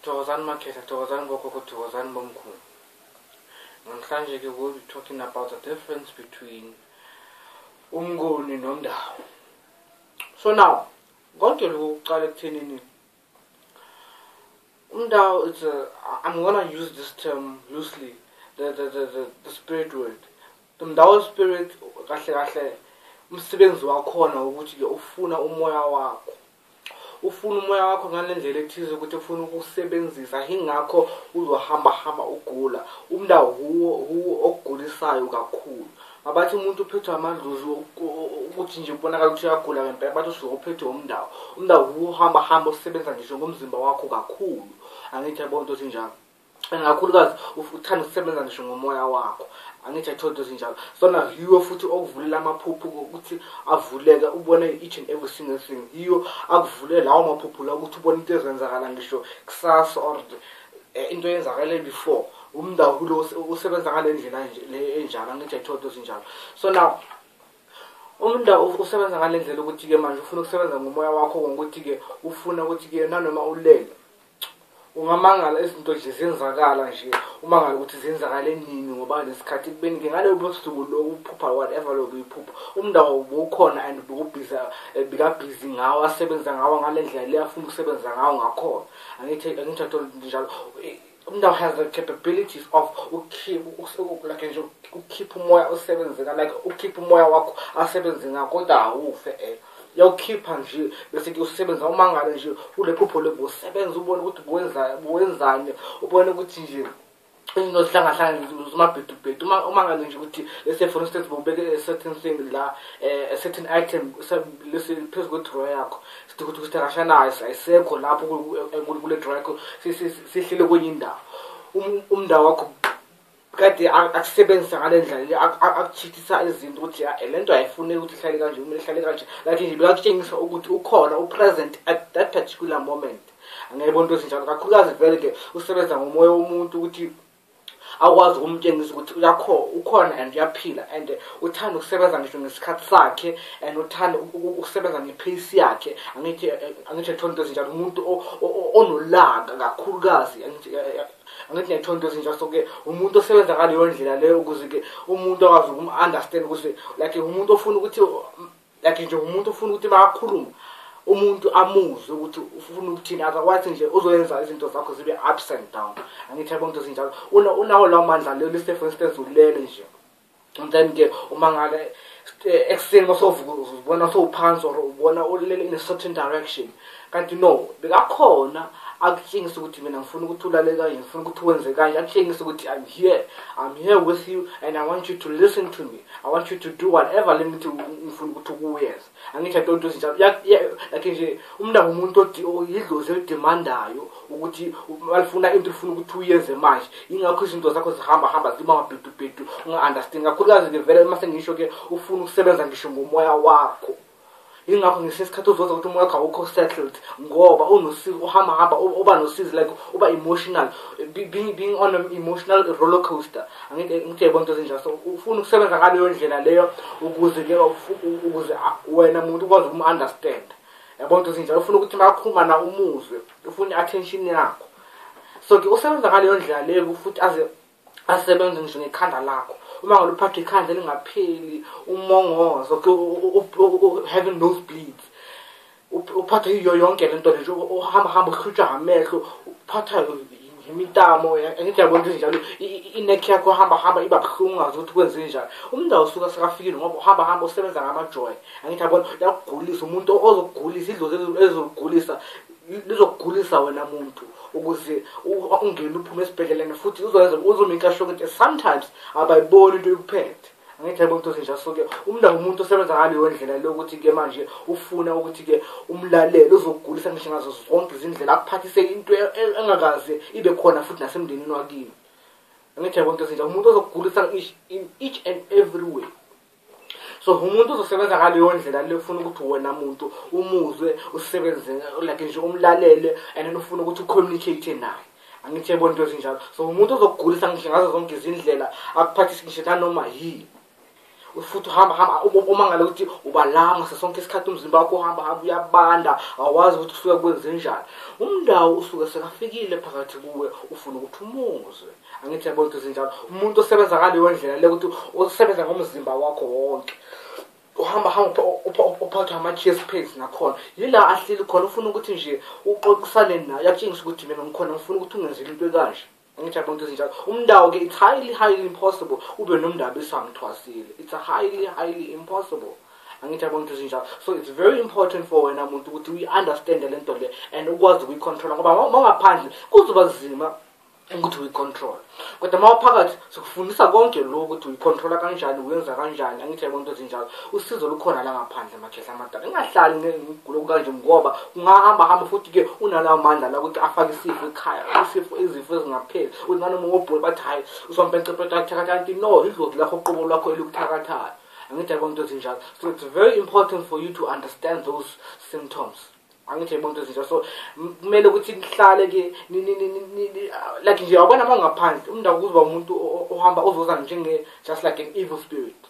Thokozani Makhehla, Thokozani Bokhokho, Thokozani Bomkhulu. Namhlanje ke we'll be talking about the difference between umnguni nomndawo. So now, konke lokhu kuqala ekuthenini umndawo it's a, I'm gonna use this term loosely, the, the, the, the, the spirit word. The mndawo spirit kahle kahle umsebenzi wakhona ukuthi ke ufuna umoya wakho ufuna umoya wakho ngalendlela ethize ukuthi ufuna ukusebenzisa ingakho uzohamba hamba ugula umnda huwo huwo okugulisayo kakhulu abathi umuntu uphethwe amadlozi ukuthi nje kubonakala ukuthi uyagula ngempela bathi usuke uphethwe umndawo umndawo huwo uhamba hamba osebenza ngisho ngomzimba wakho kakhulu angithi yabona ukuthi njalo and kakhulukazi uthanda ukusebenza ngisho ngomoya wakho angithi ayitholi into ezinjalo sona yiyo futhi okuvulela amaphupho ukuthi avuleke ubone each and every single thing yiyo akuvulela lawo maphupho la ukuthi ubone into ezenzakala ngisho kusasa or eh, into eyenzakale before umndawulo usebenza ngale ndlela enjalo angithi ayitholi into ezinjalo so now umnda usebenza ngale ndlela ukuthi-ke manje ufuna ukusebenza ngomoya wakho ngokuthi-ke ufuna ukuthi-ke nanoma ulele ungamangala izinto nje zenzakala nje umangala ukuthi zenzakale nini ngoba nesikhathi kubeni ke ngaleyo busuku lokuphupha whatever lokho iphupha umndawo ubukhona and ubukubhiza eh, bikabhizi ngawo asebenza ngawo ngale ndlela le afuna ukusebenza ngawo ngakhona angithi angithi athola njalo eh, umndawo has the capabilities of ukukhipha like nje ukukhipha umoya osebenzeka like ukukhipha umoya wakho asebenze ngakho kodwa awufe eh yawukhipha nje bese ke usebenza umangale nje ulephupho loku usebenza ubone ukuthi kuwenza kuwenzani ubone ukuthi nje into zihlangahlangene zimabhedubhedu uma ngabe nje ukuthi let's say for instance bobeke a certain thing la eh, a certain item lesi phezu kwe-drawer yakho sithi ukuthi ukuthi akashanayo ayisekho lapho kule drawer yakho sihlele kwenye indawo um, umndawo wakho kade akusebenzisa ngale ndlela akuchithisa izinto ukuthi eh, le nto ayifuneki ukuthi ihlale kanje kumele ihlale kanje like nje bekakutshengisa ukuthi ukhona upresent at that particular moment angayibona into ezinjalo kakhulukazi vele ke usebenza ngomoya womuntu ukuthi akwazi ukumtshengisa ukuthi uyakho ukhona and uyaphila and uthanda ukusebenza ngisho ngesikhathi sakhe and uthanda ukusebenza ngepace yakhe angithi angithi ethonto ezinjalo umuntu onolaka kakhulukazi angithi angithi nethonto ezintsha so ke umuntu osebenza ngaleyo ndlela leyo ukuze ke umuntu akwazi ukum-understand ukuthi like umuntu ofuna ukuthi like nje umuntu ofuna ukuthi bakhulume umuntu amuzwe ukuthi ufuna ukuthini otherwise nje uzoyenza izinto zakho zibe ups and down angithi yabona into ezinjalo unawo lawo mandla leyo lise for instance ulele nje Sometimes ke uma ngake eh, ekuseni masovuka uzibona sowuphansi or ubona ulele in a certain direction kanti no bekakhona akutshengisa ukuthi mina ngifuna ukuthi ulale kanje ngifuna ukuthi wenze kanje akutshengisa ukuthi i'm here i'm here with you and i want you to listen to me i want you to do whatever le mithi ngifuna ukuthi ukuyenza angithi i don't do izinto yakhe nje umntana umuntu yidlozi elidemandayo ukuthi alifuna into ifuna ukuthi uyenze manje ingakho izinto zakho zihamba hamba ziba mabhedubhedu unga-understand kakhulukazi-ke vele uma sengisho-ke ufuna ukusebenza ngisho ngomoya wakho ingakho ngesinye isikhathi uzoza ukuthi umoya wakho awukho settled ngoba unosizi uhamba hamba uba nosizi like uba emotional being, being on an emotional roller coaster angeke ngithe yebo into ezinjalo so ufuna ukusebenza ngaleyo ndlela leyo ukuze ke ukuze wena muntu ukwazi umu-understand yabo nto ezinjalo ufuna ukuthi makhuluma na umuzwe ufuna i-attention yakho so ke usebenza ngaleyo ndlela leyo futhi aze asebenze ngisho ngekhanda lakho uma ngaluphatha ikhanda elingapheli umongozo ke having nose bleeds uphathwa yiyo yonke le nto le nje uhamba hamba uhlutshwa ngamehlo uphathwa imitamo angithi yabona into ezinjalo ineck yakho hamba hamba iba buhlungu ungazi ukuthi kwenze njani umuntu awusuke sekafikile ngoba uhamba hamba usebenza ngamajoy angithi yabona yakugulisa umuntu ozokugulisa idlozi ezokugulisa lizokugulisa wena muntu ukuze ungene uphume esibhedleleni futhi uzoyenza uzomikasho ukuthi sometimes abayiboni into yokuphethe angithi yabo ntosi nje asuke umndaba umuntu osebenza ngaleyo ndlela lokuthi-ke manje ufuna ukuthi-ke umlalele uzokugulisa ngisho ngazo zonke izindlela akuphathise into e, e, engakaze ibe khona futhi nasemndenini wakini angithi yabo ntosi nje umuntu ozokugulisa in each and every way so umuntu uzosebenza ngaleyo ndlela le ufuna ukuthi wena muntu umuzwe usebenze like nje umlalele and then ufuna ukuthi ucommunicate naye angithi yebona into ezinjalo so umuntu ozokugulisa ngisho ngazo zonke izindlela akuphathise ngisho nanoma yini futhi uhamba hamba umangale ukuthi ubalama sesonke isikhathi umzimba wakho uhamba hamba uyabanda awazi ukuthi kusuke kwenze njani umndawo usuke sekafikile phakathi kuwe ufuna ukuthi umuzwe angithi yabona ukuthi zinjalo umuntu osebenza ngaleyo ndlela le ukuthi usebenza ngomzimba wakho wonke uhamba hamba uphathwa ama-chess pains nakhona yila ahleli khona ufuna ukuthi nje uxoxisane nayo yakutshengisa ukuthi mina ngikhona ngifuna ukuthi ungenzeli into ekanje ngitsha bonke izinjalo umndawo-ke it's highly highly impossible ube nomndaba esamthwasile it's a highly highly impossible angithi yabona into ezinjalo so it's very important for wena muntu ukuthi uyi-understande le nto le and ukwazi ukuyicontrola ngoba mawungaphandle kuzoba zima ukuthi uyicontrol kodwa uma uphakathi sikufundisa konke lokhu ukuthi uyicontrola kanjani uyenza kanjani angithi yabona into ezinjalo usizo lukhona la ngaphandle amakhehla amadala ingahlali ngigulo kanje ngoba ungahamba hamba futhi ke unalawo mandla la ukuthi afake isifo ekhaya isifo izifo ezingapheli uthi nanoma ngobhula bathi hayi usompentsepetathakanti no idlozi lakho uqobo lwakho elikuthakathayo angithi yabona into ezinjalo so it's very important for you to understand those symptoms angithi umuntu izinto so kumele ukuthi nihlale ke like nje awubona uma ngaphandle umuntu akuzuba umuntu ohamba ozoza njenge just like an evil spirit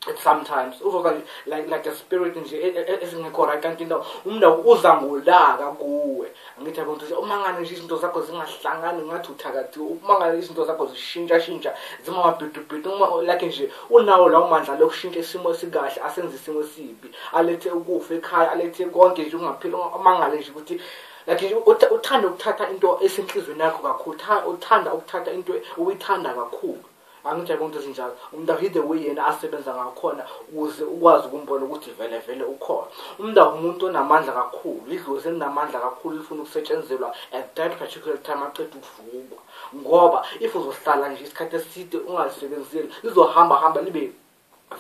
at sometimes uzoza like like a spirit nje e, e, e, esingekho right kanti no umuntu uza ngolaka kuwe angithi yabo nje uma ngane nje izinto zakho zingahlangani ngathi uthakathi uma ngane izinto zakho zishintsha shintsha zimamabhidubhidu uma like nje unawo lawo mandla lokushintsha isimo esikahle asenze isimo esibi alethe ukufa ekhaya alethe konke nje ungaphila amangale nje ukuthi like uthanda ukuthatha into esenhlizweni yakho kakhulu uthanda ukuthatha into uyithanda kakhulu angitshaye konke ezinjalo umuntu ahide way yena asebenza ngakhona ukuze ukwazi ukumbona ukuthi vele vele ukhona umuntu awumuntu onamandla kakhulu idlozi elinamandla kakhulu lifuna ukusetshenzelwa at that particular time aqeda ukuvukwa ngoba if uzohlala nje isikhathi eside ungalisebenzeli lizohamba hamba libe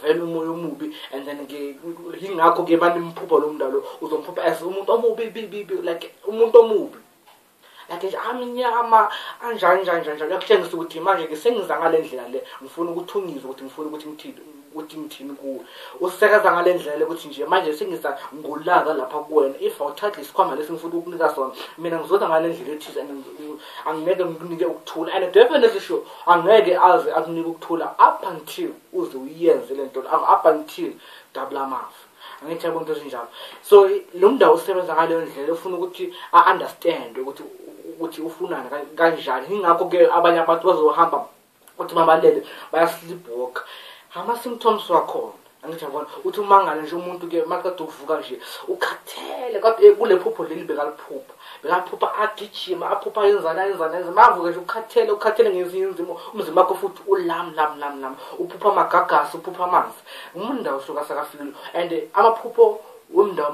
vele umoya omubi and then ke yingakho ke banimphupha lo mntalo uzomphupha as umuntu omubi bibibi like umuntu omubi like nje amnyama anjani njani njani njani yakutshengisa ukuthi manje ke sengiza ngale ndlela le ngifuna ukuthi ungizwe ukuthi ngifuna ukuthi ngithini ukuthi ngithini kuwe usisekaza ngale ndlela le ukuthi nje manje sengiza ngolaka lapha kuwena if awuthathi isikhwama lesi ngifuna ukukunika sona mina ngizoza ngale ndlela ethize angeke ngikunike ukuthula and definitely sure angeke aze akunike ukuthula up until uze uyenze le nto up until dabula amafa angithi yabona into ezinjalo so lo mndawo usebenza ngaleyo ndlela ufuna ukuthi a-understand ukuthi ukuthi ufunani kanjani yingakho-ke abanye abantu bazohamba uthi mabalele bayasilibhoka ama-symptoms wakhona angithi yabona uthi umangale nje umuntu ke maqeda ukuvuka nje ukhathele kodwa eh, kule phupho leli bekaliphupha bekaphupha agijima aphupha yenzana yenzana yenza mavuke nje ukhathele ukhathele ngezinye inzimo umzimba wakho futhi ulam lam lam lam uphupha amagagasi uphupha amanzi umundawo suka sakafikile and amaphupho wemndawo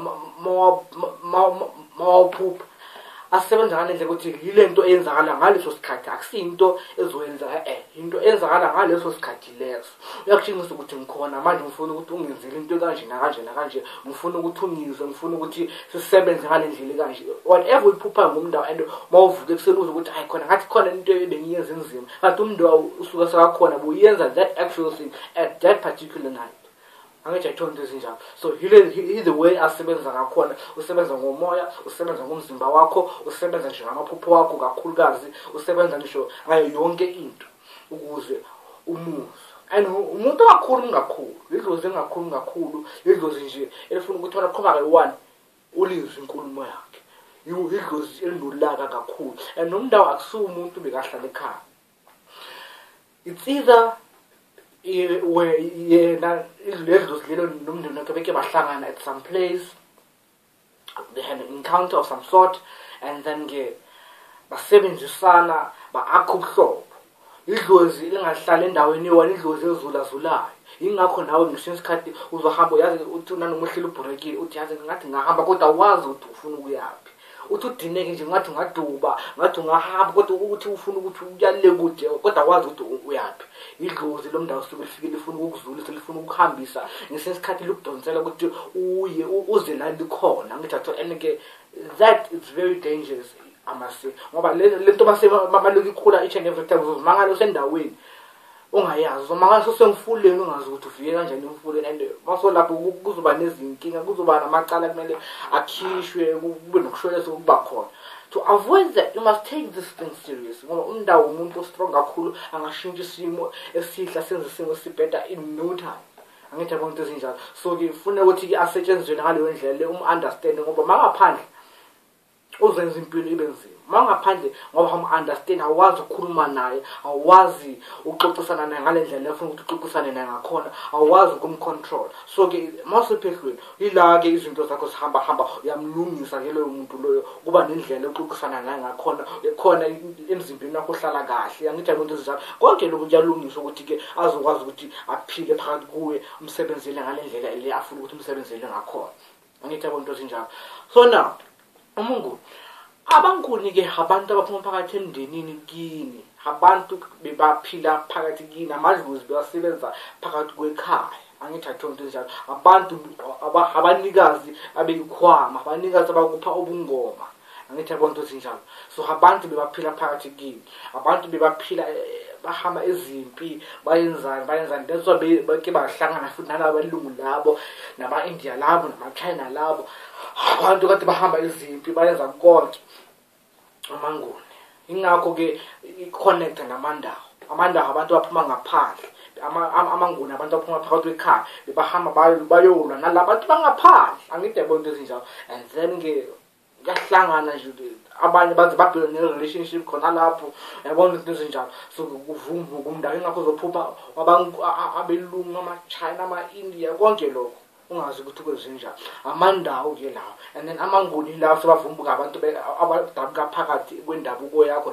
mawaphupha asebenza ngalendlela ukuthi yilento eyenzakala ngaleso sikhathi akusiyinto ezoyenzeka eh into eyenzakala ngaleso sikhathi leso uyakutshengisa ukuthi ngikhona manje ngifuna ukuthi ungenzele into kanje nakanje nakanje ngifuna ukuthi ungizwe ngifuna ukuthi sisebenze ngalendlela kanje whatever uyiphupha ngomndawo and mawuvuke kuseluza ukuthi hayi khona ngathi khona into ebengiyenza enzima kanti umndawo usuka sakakhona buyenza that actual thing at that particular night angitsho ayitholi into ezinjalo so he the way asebenza ngakhona usebenza ngomoya usebenza ngomzimba wakho usebenza nje ngamaphupho wakho kakhulukazi usebenza ngisho ngayo yonke into ukuze umuzwe and umuntu ongakhulumi kakhulu lidlozi engakhulumi kakhulu lidlozi nje elifuna ukuthi wena qhubake one ulizwe inkulumo yakhe idlozi elinolaka kakhulu and nomndawo akusiwo umuntu bekahlala ekhaya it's either yena idluzilelo nomndeni wakhe beke bahlangana at some place they had an encounter of some sort and then ke basebenzisana ba-akha ubuhlobo idlozi lingahlala endaweni yona idlozi ezulazulayo yingakho nawe ngisho isikhathi uzohamba uyazi uthi nanoma uhleli ubhurekile uthi yazi ngathi ngahamba kodwa wazi ukuthi ufuna ukuyaphi uthi udineke nje ngathi ungaduba ngathi ungahamba kodwa ukuthi ufuna ukuthi uyale kude kodwa wazi ukuthi uyaphi idlozi lo mndawo suke lifike lifuna ukukuzulisa lifuna ukukuhambisa ngesinye isikhathi likudonsela ukuthi uye uze la likhona ngithi atho and ke that is very dangerous amase ngoba le nto mase maluke ikhula each and every time uzozimangala usendaweni ongayazi so makasho semfuleni ungazi ukuthi ufike kanjani emfuleni and masolapho kuzoba nezinkinga kuzoba namacala kumele akhishwe kube nokushwelesa ukuba khona to avoid that you must take this thing serious ngoba umndawo umuntu ostrong kakhulu angashintsha isimo esihla senze isimo sibheda in no time angithi yabona into ezinjalo so ngifuna ukuthi-ke asetshenziswe ngaleyo ndlela le um-understande ngoba mangaphandle uzenza impilo ibe nzima uma ungaphandle ngoba hamu-understand awazi ukukhuluma naye awazi uxoxisana naye ngale ndlela efuna ukuthi uxoxisane naye ngakhona awazi ukumcontrol so-ke uma usephehlweni yila-ke izinto zakho zihamba hamba uyamlungisa ke loyo muntu loyo kuba nendlela oxoxisana naye ngakhona khona emzimbeni wakho uhlala kahle angithi yabo nto ezinjalo konke lokhu kuyalungiswa ukuthi-ke azokwazi ukuthi aphile phakathi kuwe umsebenzele ngale ndlela le afuna ukuthi umsebenzele ngakhona angithi yabo into ezinjalo so now umungu abankunike abantu abaphuma phakathi emndenini kini abantu bebaphila phakathi kini amadlozi bewasebenza phakathi kwekhaya angithi athonto njalo abantu abanikazi abeyikhwama abanikazi abakupha ubungoma angithi yabona ukuthi njalo so abantu bebaphila phakathi kini abantu bebaphila eh, bahamba izimpi bayenzani bayenzani that's why beke bahlangana futhi nalabo belungu labo nama-india labo namachina labo abantu kade bahamba izimpi bayenza konke amanguni ingakho-ke i-connecta namandawo amandawo abantu baphuma ngaphandle amanguni abantu aphuma phakathi kwekhaya bebahamba bayolwa nala bantu bangaphandle angide bonto ezinjalo and then-ke kuyahlangana nje abanye baze babheke ne-relationship khona lapho yabona izinto ezinjalo so kuvumba kumndaka ingakho uzophupha abelungu amachina ama-india konke lokho ungazi ukuthi kwenzenjani amandawo ke lawo and then amanguni lawo sebavumbuka abantu abadabuka phakathi kwendabuko yakho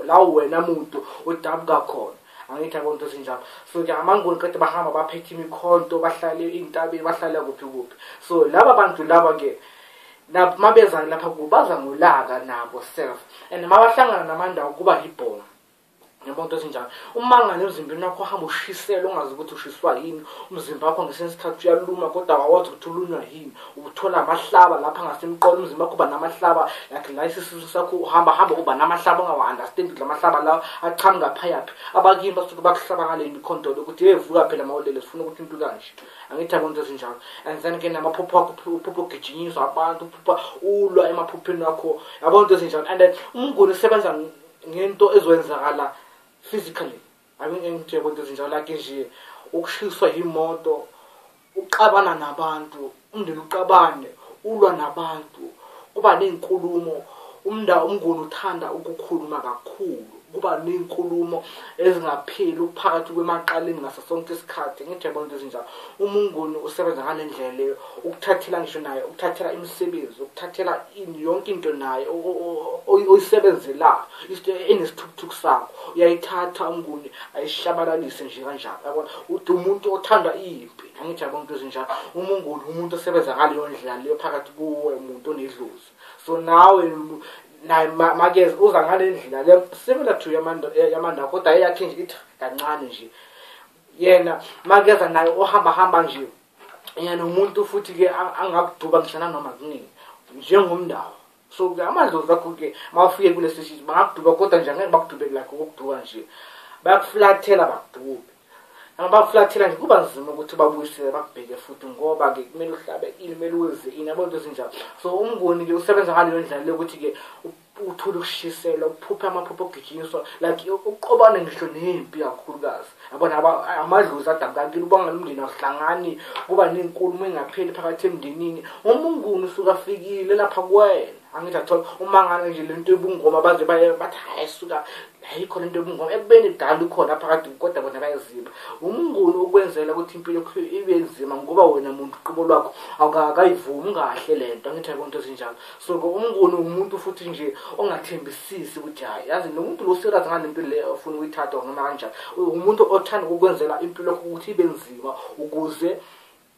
lawo wena muntu odabuka khona angithi akonto ezinjalo so ke amanguni qede bahamba baphethe imikhonto bahlale iy'ntabeni bahlale kuphi kuphi so laba bantu laba-ke nabo mabeza lapha kubo baza ngolaka nabo self and mabahlangana namandawo kuba yibhomu yabo into ezinjalo umangane emzimbeni wakho uhamba ushisela ungazi ukuthi ushiswa yini umzimba wakho ngesinye isikhathi uyaluma kodwa awawazi ukuthi ulunywa yini uthola amahlaba lapha ngasemqolo umzimba wakho uba namahlaba like la isisisu sakho uhamba hamba uba namahlaba ongawa-understand ukuthi la mahlaba lawo aqhamuka phayaphi abakini basuke bakuhlaba ngale mikhondolo ukuthi yevuka phela mawulele sifuna ukuthi into kanje angithanda into ezinjalo and then ke namaphupho akho uphupho ugijinyiswa abantu uphupha ulwa emaphupheni akho yabo into ezinjalo and then umnguni usebenza ngento ezowenzakala physically angingengithe yabo into ezinjalo like nje ukushiswa yimoto uxabana nabantu umndeni uxabane ulwa nabantu kuba ney'nkulumo umnda umnguni uthanda ukukhuluma kakhulu kuba ney'nkulumo ezingapheli ukuphakathi kwemaqaleni ngaso sonke isikhathi ngithi yabona into ezinjalo uma ungoni usebenza ngale ndlela leyo ukuthathela ngisho naye ukuthathela imisebenzi ukuthathela ini yonke into naye oyisebenzelayo isto enesithukuthuku sakho uyayithatha umnguni ayishabalalise nje kanjalo yabona ude umuntu othanda impi angithi yabona into ezinjalo uma ungoni umuntu osebenza ngaleyo ndlela leyo phakathi kuwe muntu onedlozi so nawe naye makeze uza ngale ndlela le similar to yamanda kodwa eyakhe nje ithi kancane nje yena makeza naye ohamba hamba nje yena umuntu futhi ke angakuduba mhlana noma kunini njengomndawo so ke amadlozi akho ke mawufike kulesi shit bangakuduba kodwa nje angeke bakudube like ukukuduka nje bayakuflathela bakudube abaflathela nje kuba nzima ukuthi babuyisele bakubheke futhi ngoba ke kumele uhlabe ini kumele uze ini yabo into ezinjalo so umnguni ke usebenza ngaleyo ndlela lokuthi ke uthule ukushiselwa uphuphe amaphupho okugijinyiswa like uqobane ngisho nempi kakhulukazi yabona amadlozi adabukakile uba ngalumndeni awuhlangani kuba nenkulumo engapheli phakathi emndenini umnguni usuke afikile lapha kuwena angithi athola umangalo nje lento yobungoma baze baye bathi hayi suka ayikho lento yobungoma ekubeni kudala ukhona phakathi kodwa bona bayaziba umnguni ukwenzela ukuthi impilo ibe nzima ngoba wena muntu uqobo lwakho awukayivumi kahle lento angithi ayikho into ezinjalo so umnguni umuntu futhi nje ongathembisisi ukuthi hayi yazi nomuntu lo serious ngale mpilo le ofuna ukuyithatha noma kanjani umuntu othanda ukukwenzela impilo ukuthi ibe nzima ukuze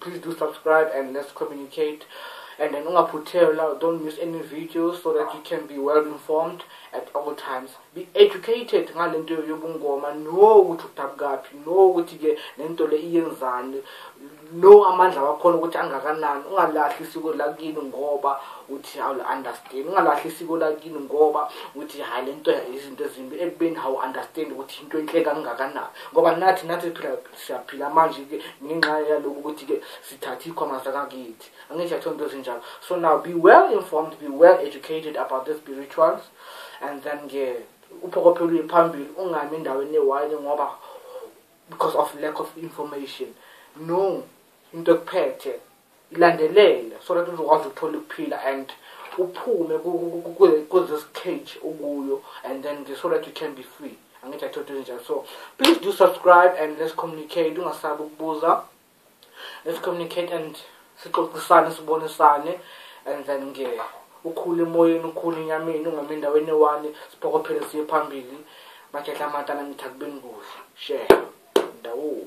please do subscribe and let's communicate and then ungaphuthelwa don't miss any videos so that you can be well informed at all times be educated ngale nto yobungoma no ukuthi udabukaphi no ukuthi-ke le nto le iyenzani no amandla wakhona ukuthi angakanani ungalahli isiko lakini ngoba uthi awuli-understand ungalahli isiko lakini ngoba uthi hhayi le nto izinto ezimbi ekubeni hawu-understand ukuthi into enhle kangakanani ngoba nathi nathi phila siyaphila manje-ke ngenxa yalokhu ukuthi-ke sithathe ikhoma zakakithi angisho atho into ezinjalo so now be well informed be well educated about the spirituals and then ke uphokophela uye phambili ungami endaweni ewayini ngoba because of lack of information no into ekuphethe ilandelele so that uzokwazi ukuthola ukuphila and uphume kuthis cage ukuyo and then so that you can be free angithi athoda ezinjalo so please do subscribe and let's communicate ungasabi ukubuza let's communicate and sixoxisane sibonisane and then nge ukhule emoyeni ukhule enyameni ungami endaweni ewani siphokophele siye phambili makhehla amatana ngithi akubeni kuhle share ndawoo